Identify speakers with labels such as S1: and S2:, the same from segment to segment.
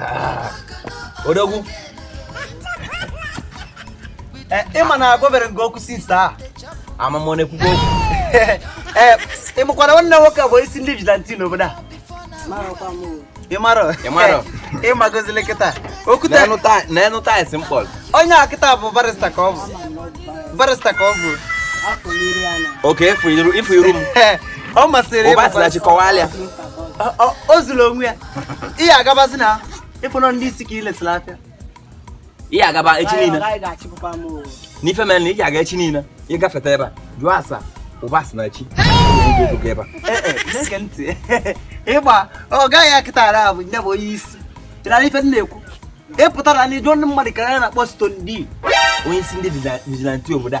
S1: Ah. odogwu
S2: eh, ịma na agwabere nke okwu sista a ama m
S1: ọ na-ekwukwa okwu eh,
S2: ịmakwa na nwanne nwoke bụ isi ndị vigilante n'obodo a ịmarọ ịmarọ ịmagozili kịta okwute n'enu
S1: taịsị mkpọrọ onye a kịta bụ
S2: barista ka ọ bụ barista ka ọ bụ okay
S1: ifu iru m ọ masịrị
S2: ịbụ barista
S1: Ụbasinachi kọwalịa o
S2: zuru onwe ya ihe agabazi na ịfụnọ ndị isi ka ị lesịrị afịa
S1: ihe agaba echi niile n'ife mere na ị ga-aga echi niile ịgafeta ebe a jụọ ase Ụbasinachi ebe a
S2: ịgba ọ gaghị akịtara abụ nya bụ onye isi chịrara ife na-ekwu ị pụtara na ịjụ ndị mmadụ ka a na-akpọ Stone D onye isi ndị
S1: vigilante obodo a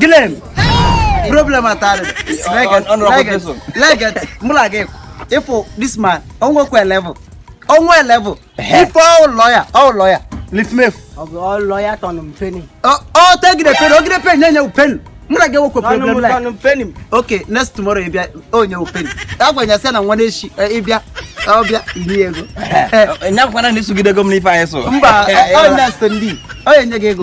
S2: gịnị problem atari leget mụ na gị ịfụ this man o nwekwa level onwe level ife ụlọ ya ụlọ ya lifmef ụlọ
S3: ya tọnụ m peni ọ tegide
S2: peni ogide peni na-enye peni mụ na gị enwekwa problem like okay next tomorrow ị bịa o nye peni agwa nya sị na nwanne echi eh, ịbịa ọbịa iri ego nya
S1: kwa na isogide ego m n'ife anyị so mba onye
S2: so ndị onye nye gị ego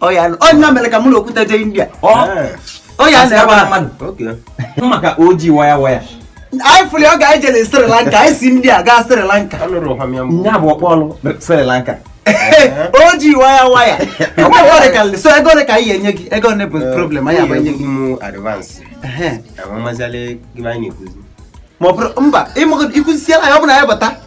S2: ọ nya mere ka mụ na Okwute jee India ọ ya na-ebe
S1: mmadụ maka oji waya waya anyị fụrụ ọ
S2: ga-eje na Sri Lanka anyị si India gaa Sri Lanka ya bụ
S1: ọkpọ ọlụ Sri Lanka o
S2: ji waya waya so ego ole ka anyị enye gị ego ole bụ eh, problem
S1: anyị abanye gị ma ọ bụrụ
S2: mba ịkụzisiela ya ọ bụ na ya bata